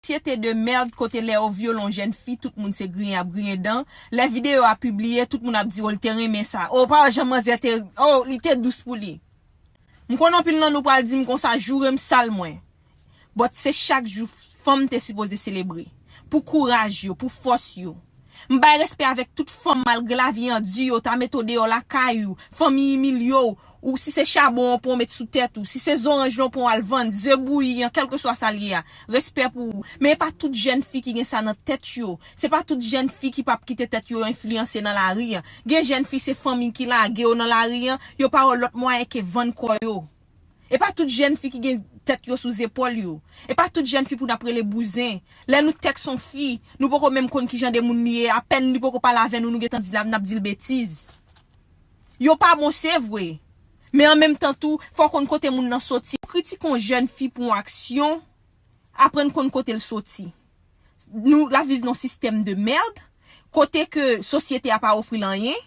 Société de merde kote lè yo vyole yon jèn fi tout moun se griyen ap griyen dan, lè video a pibliye tout moun ap di oh li te renmen sa, oh pa wè jan manzè te oh li te dous pou li. M konnen anpil nan nou pral dim konsa jourem sal mwen but se chak jou fanm te sipoze selebre pou kouraj yo, pou fòs yo. M bay respè avèk tout fanm malgre lavi an di yo ta mete w deyò lakay ou, fanmi imilye w, Ou si se chabon an pran w met sou tèt ou, si se zoranj lan w pran w al vann, ze bouyi an, kèlkeswa sa l ye a. Respè pou ou. Men e pa tout jèn fi ki gen sa nan tèt yo. Se pa tout jèn fi ki pap kite tèt yo enfliyanse nan lari an. Gen jèn fi se fanmi ki lage yo nan lari an, yo pa wè lòt mwayen ke vann kò yo. E pa tout jèn fi ki gen tèt yo sou zepòl yo. E pa tout jèn fi pou n ap rele bouzen. Lè nou tèks on fi, nou poko menm konn kijan de moun li ye, apèn li poko pale avè nou nou gentan di l ap n ap di l betiz. Yo pa bon se vre. Men an menm tan tou, fò w konn kote moun nan soti. Pou w kritike yon jèn fi pou yon aksyon, aprann konn kote l soti. Nou ap viv nan yon sistèm de merd, kote ke sosyete a pa ofri l anyen.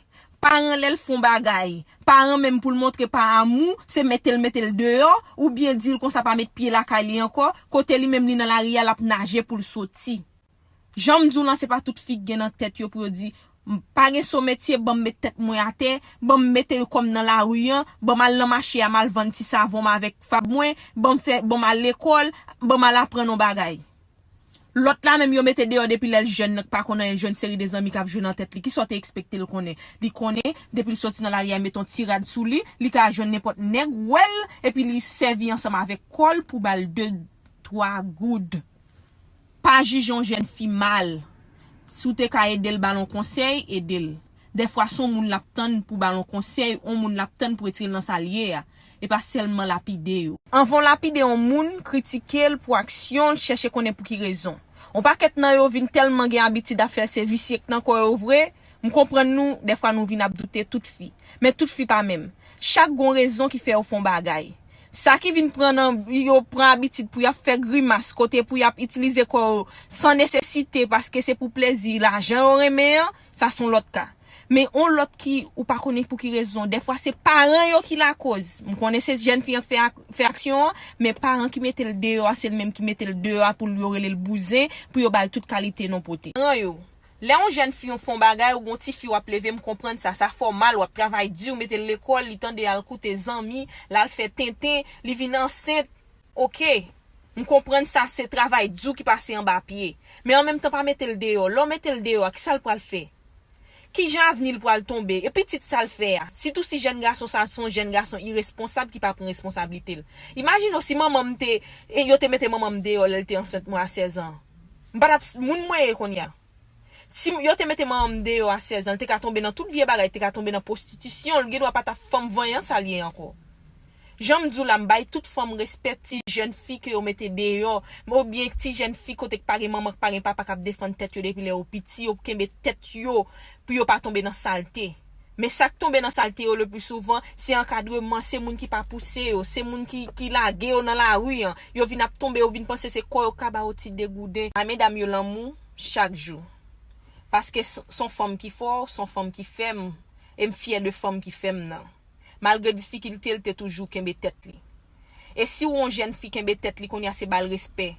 Paran lè l fè yon bagay, paran menm pou l montre pa amou, se mete l mete l deyò, oubyen di l konsa pa met pye lakay li ankò, kote li menm li nan lari a l ap naje pou l soti. Janm diw lan se pa tout fi k gen nan tèt yo pou yo di M pa gen so metye banm met tèt mwen atè, banm mete yon kòm nan lari an, banm al nan mache a mal vann ti savon m avèk fab mwen, banm fè, banm al lekòl, banm al aprann yon bagay. Lòt la menm yo mete deyò depi lèl jèn nan k pa konn anyen l jwenn seri de zanmi kap jwe nan tèt li kisa w te ekspekte l konnen? Li konnen depi l soti nan lari a met yon ti rad sou li, li ka jwenn nenpòt nèg wèl epi li sèvi ansanm avèk kòl pou bal de twa goud. Pa jije yon jèn fi mal. Si w te ka ede l ba l yon konsèy, ede l. Dèfwa se yon moun l ap tann pou ba l yon konsèy, yon moun l ap tann pou retire l nan sa l ye a, e pa sèlman lapide yo. Anvan w lapide yon moun, kritike l pou aksyon l, chèche konnen pou ki rezon. Yon pakèt nan yo vin tèlman gen abitid ap fè l se visye k nan kò yo vre, M konprann nou, dèfwa nou vin ap doute tout fi. Men tout fi pa menm. Chak gon rezon ki fè yo fon bagay. Sa ki vin pran nan yo pran abitid pou yap fè grimas kote pou yap itilize kò yo san nesesite paske se pou plezi lajan yo renmen an, sa son lòt ka. Men on lòt ki ou pa konnen pou ki rezon, dèfwa se paran yo ki lakoz. M konnen se jèn fi an k fè aksyon an, men paran ki mete l deyò a se l menm ki mete l deyò a pou l yo rele l bouzen, pou yo ba l tout kalite non pote. Paran yo, Lè yon jèn fi yon fon bagay ou gon tifi wap leve m konprann sa sa fè w mal wap travay di ou mete l lekòl li tande al koute zanmi l al fè tenten li vin ansent ok m konprann sa se travay di w ki pase anba pye men an menm tan pa mete l deyò lè w mete l deyò a kisa l pral fè kijan avni l pral tonbe e pitit sa l fè a sitou si jèn gason sa son jèn gason iresponsab ki pa pran responsablite l imajine w si manman m te yo te mete manman m deyò lè l te ansent mwen a 16 an. M pa t ap moun mwen ye kounya. Si yo te mete manman m deyò a 16 an, l te ka tonbe nan tout vye bagay, l te ka tonbe nan pwostitisyon, l gendwa pa ta fanm vanyan sa l ye ankò. Jan m di w la, m bay tout fanm respè, ti jèn fi ke yo mete deyò, oubyen ti jèn fi kote k pa gen manman, k pa gen papa k ap defann tèt yo depi lè yo piti, yo kenbe tèt yo pou yo pa tonbe nan salte. Men sa k tonbe nan salte yo lepli souvan, se ankadreman, se moun ki pa pouse yo, se moun ki lage yo nan lari an. Yo vin ap tonbe, yo vin panse se kò yo k ka ba yo ti degouden. Bay medam yo lanmou chak jou. Paske s on fanm ki fò, s on fanm ki fèm, e m fyè de fanm ki fèm nan. Malgre difikilte l te toujou kenbe tèt li. E si w on jèn fi kenbe tèt li kounye a se ba l respè.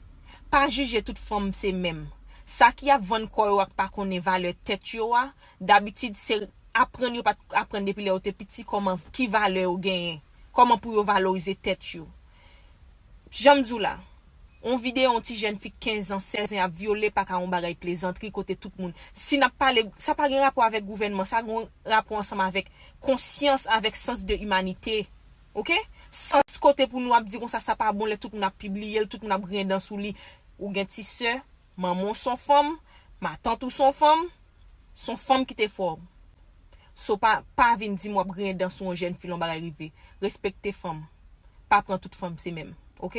Pa jije tout fanm se menm. Sa ki ap vann kò yo ak pa konnen valè tèt yo a, Dabitid se aprann yo pat aprann depi lè yo te piti kòman ki valè yo genyen, kòman pou yo valorize tèt yo. Janm di w la, yon videyo yon ti jèn fi 15 ans, 16 ans ap vyole pa ka yon bagay plezantri kote tout moun. Si nap pale, sa pa gen rapò avèk gouvènman, sa gen rapò ansanm avèk konsyans, avèk sans de humanité. Ok? Sans kote pou nou ap di konsa sa pa bon lè tout moun ap pibliye l, tout moun ap griyen dan sou li. Ou gen ti sè, Manman w son fanm, matant ou son fanm, son fanm ki te fè w. So pa pa vin di m w ap griyen dan sou yon jèn fi lè yon bagay rive. Respekte fanm. Pa pran tout fanm se menm. Ok.